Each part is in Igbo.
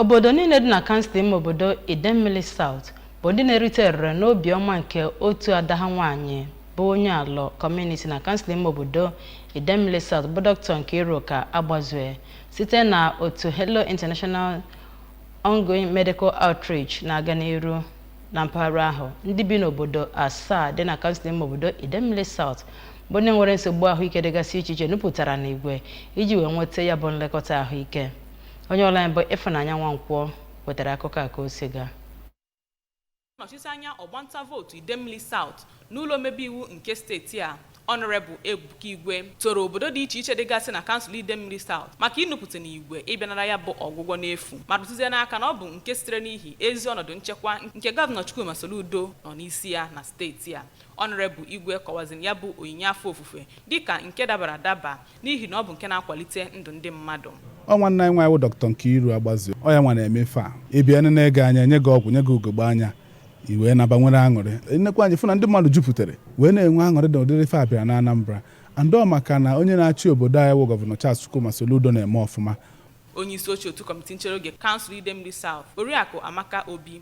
Obodo niile dị na kansụl ime obodo Idemmili South bụ ndị na-erite erere n'obi ọma nke otu ada ha nwaanyị bụ onye Alọ kọmuniti na kansụl ime obodo Idemmili South bụ Doctor Nkiruka Agbazue site na otu Hello International Ongoing Medical Outreach na-aga n'iru na mpaghara ahụ. Ndị bi n'obodo asaa dị na kansụl ime obodo Idemmili South bụ ndị nwere nsogbu ahụike dịgasị iche iche nupụtara n'igwe iji wee nweta ya bụ nlekọta ahụike. Onye ọlụ anyị bụ Ịfụnanya Nwankwọ wetara akụkọ a ka o si gaa. Nnọchite anya ọgbanta vootu Idemmili South n'ụlọ omebe iwu nke steeti a Honorable Ebuka Igwe toro obodo dị iche iche dịgasị na kansụl Idemmili South maka inupụta n'igwe ịbịa nara ya bụ ọgwụgwọ n'efu ma rụtụzie n'aka na ọ bụ nke sitere n'ihi ezi ọnọdụ nchekwa nke gọvanọ Chukwuma Soludo nọ n'isi ya na steeti a. Honorable Igwe kọwaziri ya bụ onyinye afọ ofufe dịka nke dabara adaba n'ihi na ọ bụ nke na-akwalite ndụ ndị mmadụ. Ọ nwanne anyị nwaanyị wụ Doctor Nkiru Agbazue, ọ ya nwa na-eme ife a. Ị bịa nene gị anya, nye gị ọgwụ, nye gị ugogbe anya, i wee naba nwere aṅụrị. Ị nekwa anya, ị fụ na ndị mmadụ juputere wee na-enwe aṅụrị na ụdịrị ife a bịara n'Anambra. And ọ maka na onye na-achị obodo anyị wụ Gọvanọ Charles Chukwuma Soludo na-eme ọfụma. Onyeisioche otu kọmiti nchere oge kansụl Idemili South, Oriakụ Amaka Obi,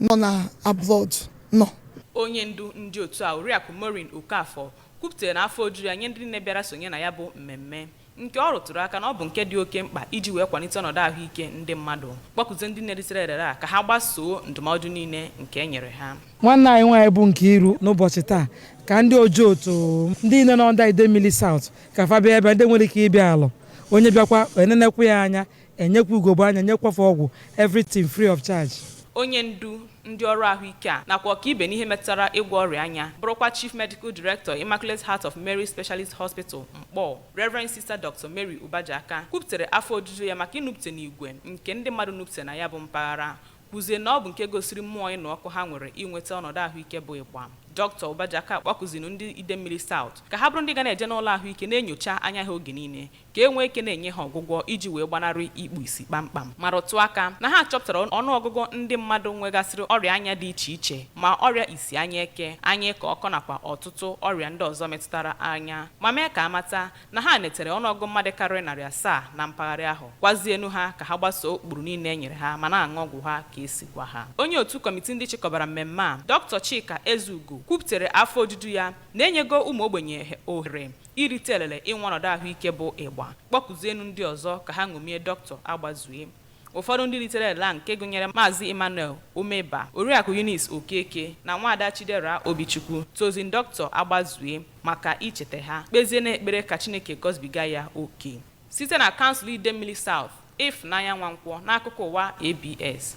nọ na abroad nọ. Onye ndu ndị otu a, Oriakụ Maureen Okafor, kwupụtara na afọ ojuju ya nye ndị niile bịara sonye na ya bụ mmemme, nke ọ rụtụrụ aka na ọ bụ nke dị oke mkpa iji wee kwalite ọnọdụ ahụike ndị mmadụ, kpọkuzie ndị niile ritere erere a ka ha gbasoo ndụmọdụ niile nke e nyere ha. Nwanne anyị nwaanyị bụ Nkiru n'ụbọchị taa ka ndị Ojoto, ndị niile nọ under Idemili South ka fa bịa ebe a, ndị nwere ike ịbịa Alọ, onye bịakwa e nenekwa ya anya E nyekwa ugogbe anya, nyekwa fa ọgwụ, everything free of charge. Onye ndu ndị ọrụ ahụike a nakwa ọkaibe n'ihe metụtara ịgwọ ọrịa anya, bụrụkwa Chief Medical Director Immaculate Heart of Mary Specialist Hospital, Nkpor, Reverend Sister Doctor Mary Ubajaka, kwupụtara afọ ojuju ya maka inupụta n'igwe nke ndị mmadụ nupụtara na ya bụ mpaghara, kwuzie na ọ bụ nke gosiri mmụọ ịnụ ọkụ ha nwere inweta ọnọdụ ahụike bụ ịgba. Doctor Ubajaka kpọkuzinu ndị Idemmili South ka ha bụrụ ndị ga na-eje n'ụlọ ahụike na-enyocha anya ha oge niile ka e nwee ike na-enye ha ọgwụgwọ iji wee gbanarị ikpu isi kpam kpam, ma rụtụ aka na ha chọpụtara ọnụ ọgụgụ ndị mmadụ nwegasịrị ọrịa anya dị iche iche, ma ọrịa isi anya eke, anya ịkọ ọkọ nakwa ọtụtụ ọrịa ndị ọzọ metụtara anya, ma mee ka a mata na ha netere ọnụ ọgụgụ mmadụ karịrị narị asaa na mpaghara ahụ, gwazienu ha ka ha gbasoo ụkpụrụ niile e nyere ha ma na-aṅụ ọgwụ ha ka e si gwa ha. Onye otu kọmiti ndị chịkọbara mmemme a, Doctor Chika Ezeugo kwuputere afọ ojuju ya na e nyego ụmụ ogbenye ohere Irite elele inwe ọnọdụ ahụike bụ ịgba. Kpọkuzienụ ndị ọzọ ka ha ṅomie Dọkịta Agbazue. Ụfọdụ ndị ritere elele a nke gụnyere Maazị Emmanuel Omeba, Oriakụ Eunice Okeke na Nwaada Chidera Obichukwu toziri Dọkịta Agbazue maka icheta ha, kpezie n'ekpere ka Chineke gọzibiga ya oke. Site na Kansụl Idemmili South, Ifụnanya Nwankwọ n'akụkọ ụwa ABS.